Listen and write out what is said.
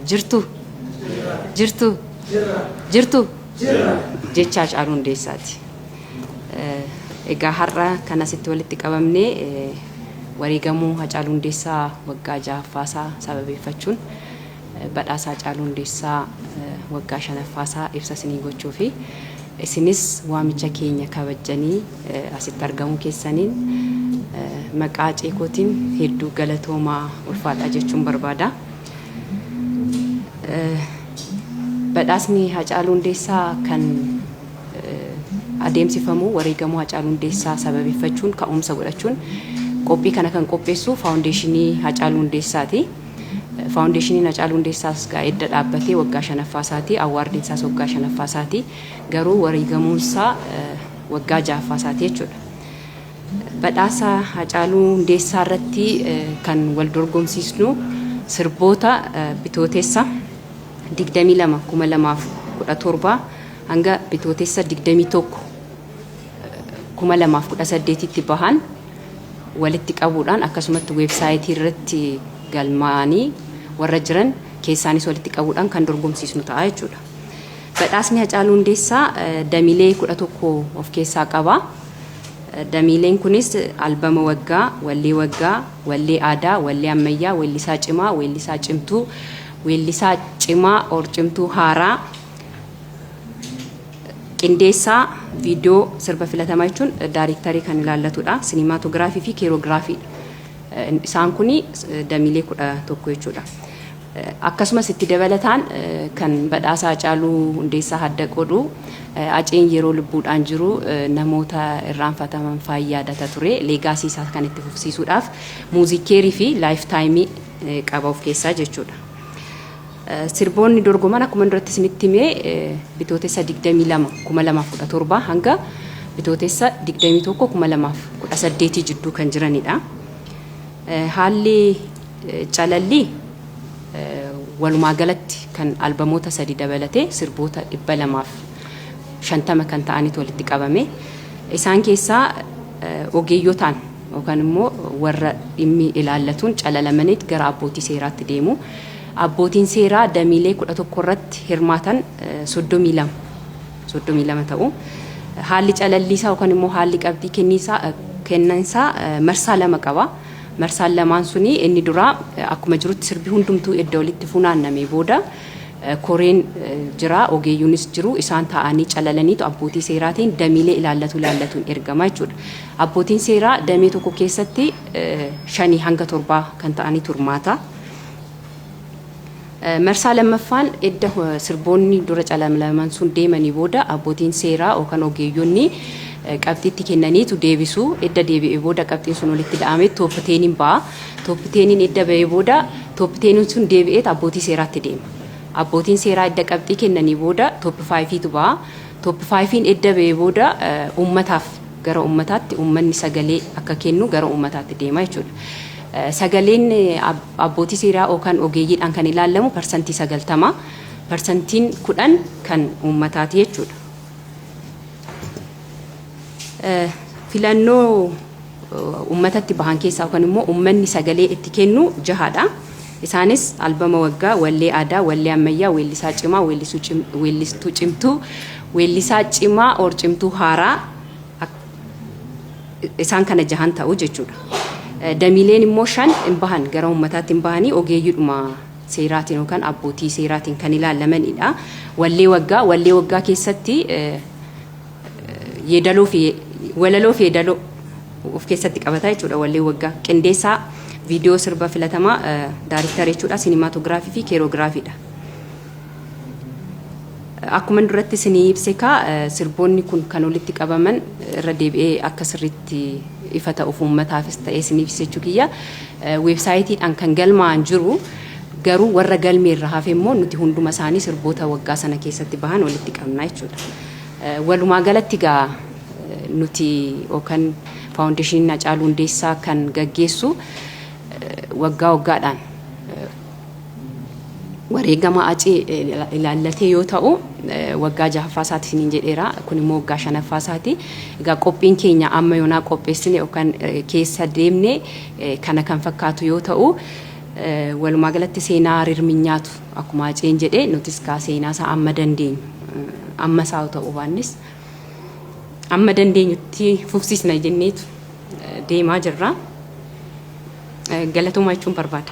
Jirtu? Jirtu? Jirtu? Jecha Hacaaluu Hundeessaati. Egaa har'a kan asitti walitti qabamnee wareegamuu Hacaaluu Hundeessaa waggaa jahaffaasaa sababeeffachuun badhaasa Hacaaluu Hundeessaa waggaa shanaffaasaa ibsa isinii gochuu fi isinis waamicha keenya kabajjanii Asitti argamuu keessaniin maqaa Acee kootiin hedduu galatoomaa ulfaadhaa jechuun barbaada. Badhaasni Hacaaluu Hundeessaa kan adeemsifamu wareegamuu Hacaaluu Hundeessaa sababeeffachuun ka'umsa godhachuun qophii kana kan qopheessu Faawundeeshinii Hacaaluu Hundeessaati. Faawundeeshiniin Hacaaluu Hundeessaas gaa edda dhaabbatee waggaa shanaffaa isaati. Awwaardiin isaas waggaa shanaffaa isaati. Garuu wareegamuun isaa waggaa 6ffaa isaati jechuudha. Badhaasa Haacaaluu Hundeessaa irratti kan wal dorgomsiisnu sirboota Bitootessa 22, 2017 hanga Bitootessa 21, 2018tti bahan walitti qabuudhaan akkasumatti weebsaayitii irratti galmaa'anii warra jiran keessaanis walitti qabuudhaan kan dorgomsiisnu ta'a jechuudha. Badhaasni Hacaaluu Hundeessaa damilee 11 of keessaa qaba. Damiileen kunis albama waggaa, wallee waggaa, wallee aadaa, wallee ammayyaa, weellisaa cimaa, weellisaa cimtuu, weellisaa cimaa or cimtuu haaraa, qindeessaa viidiyoo sirba filatamaa jechuun daayreektarii kan ilaallatudha. Sinimaatoogiraafii fi keeroogiraafiidha. Isaan kun damiilee 11 jechuudha. Akkasumas itti dabalataan kan badhaasa Hacaaluu Hundeessaa hadda qoodu Haceen yeroo lubbuudhaan jiru namoota irraanfataman faan yaadata ture. Leegaasii isaa kan itti fufsiisuudhaaf Muuziik Keerii fi Laayif Taayimii qaba of keessaa jechuudha. Sirboonni dorgoman akkuma duratti isinitti hime Bitootessa 22, 2017 hanga Bitootessa 21, 2018 jidduu kan jiranidha. Haalli Calallii walumaa galatti kan albamoota sadi dabalatee sirboota 250 kan ta'anitu walitti qabame. Isaan keessaa ogeeyyotaan yookaan immoo warra dhimmi ilaallatuun calalamaniit gara abbootii seeraatti deemu. Abbootiin seeraa damiilee 11 irratti hirmaatan 32, 32 ta'u. Haalli calalliisaa yookaan immoo haalli qabxii kenniinsaa, kennansaa marsaa lama qaba. Marsaan lamaan suni inni duraa akkuma jirutti sirbi hundumtuu edda walitti funaannamee booda koreen jira ogeeyyuunis jiru isaan taa'anii calalaniitu abbootii seeraatiin damiilee ilaallatu ilaallatuun ergama jechuudha. Abbootiin seeraa damee tokko keessatti shanii hanga torbaa kan ta'anitu hirmaata. Marsaa lammaffaan edda sirboonni dura calamlaman sun deemanii booda abbootiin seeraa yookan ogeeyyonni qabxii itti kennaniitu deebisu. Edda deebi'ee booda qabxiin sun walitti ida'ameet tooppi teeniin ba'a. Tooppi teeniin edda ba'ee booda tooppi teeniin sun deebi'eet abbootii seeraatti deema. Abbootiin seeraa edda qabxii kennanii booda tooppi faayifiitu ba'a. Tooppi faayifiin edda ba'ee booda uummataaf. gara ummataatti ummanni sagalee akka kennu gara ummataatti deema jechuudha. Sagaleen abbootii seeraa yookaan ogeeyyiidhaan kan ilaallamu parsantii 90, parsantiin 10 kan ummataati jechuudha. Filannoo ummatatti bahan keessaa yookaan immoo ummanni sagalee itti kennu jahaadha. Isaanis, albama waggaa, wallee aadaa, wallee ammayyaa, weellisaa cimaa, weellistuu cimtuu, weellisaa cimaa or cimtuu haaraa isaan kana jahan ta'u jechuudha. Damiileen immoo shan hin bahan gara uummataatti hin bahanii ogeeyyiidhuma seeraatiin yookaan abbootii seeraatiin kan ilaalamanidha. Wallee waggaa, wallee waggaa keessatti yeedaloo fi walaloo fi yeedaloo of keessatti qabata jechuudha wallee waggaa qindeessaa viidiyoo sirba filatamaa daariktara jechuudha sinimaatoogiraafii fi keeroogiraafiidha. Akkuma duratti isinii ibse kaa sirboonni kun kan walitti qabaman irra deebi'ee akka sirriitti ifa ta'uuf uummataafis ta'ee isiniif ibsa jechuu kiyya weebsaayitiidhaan kan galmaa'an jiru garuu warra galmee irra hafe immoo nuti hunduma isaanii sirboota waggaa sana keessatti bahan walitti qabna jechuudha. Walumaa galatti egaa nuti yookan Faawundeeshiniin Hacaaluu Hundeessaa kan gaggeessu waggaa waggaadhaan wareegama Hacee ilaallatee yoo ta'u waggaa jahaffaa isaati isiniin jedheera. Kun immoo waggaa shanaffaa isaati. Egaa qophiin keenya amma yoonaa qopheessine yookan keessa deemne kana kan fakkaatu yoo ta'u walumaa galatti seenaa rirminyaatu. Akkuma Haceen jedhe nutis kaa seenaa isaa amma dandeenyu amma isaa ta'uu baannes amma dandeenyutti fufsiisna jenneetu deemaa jirra. Galatoomaa jechuun barbaada.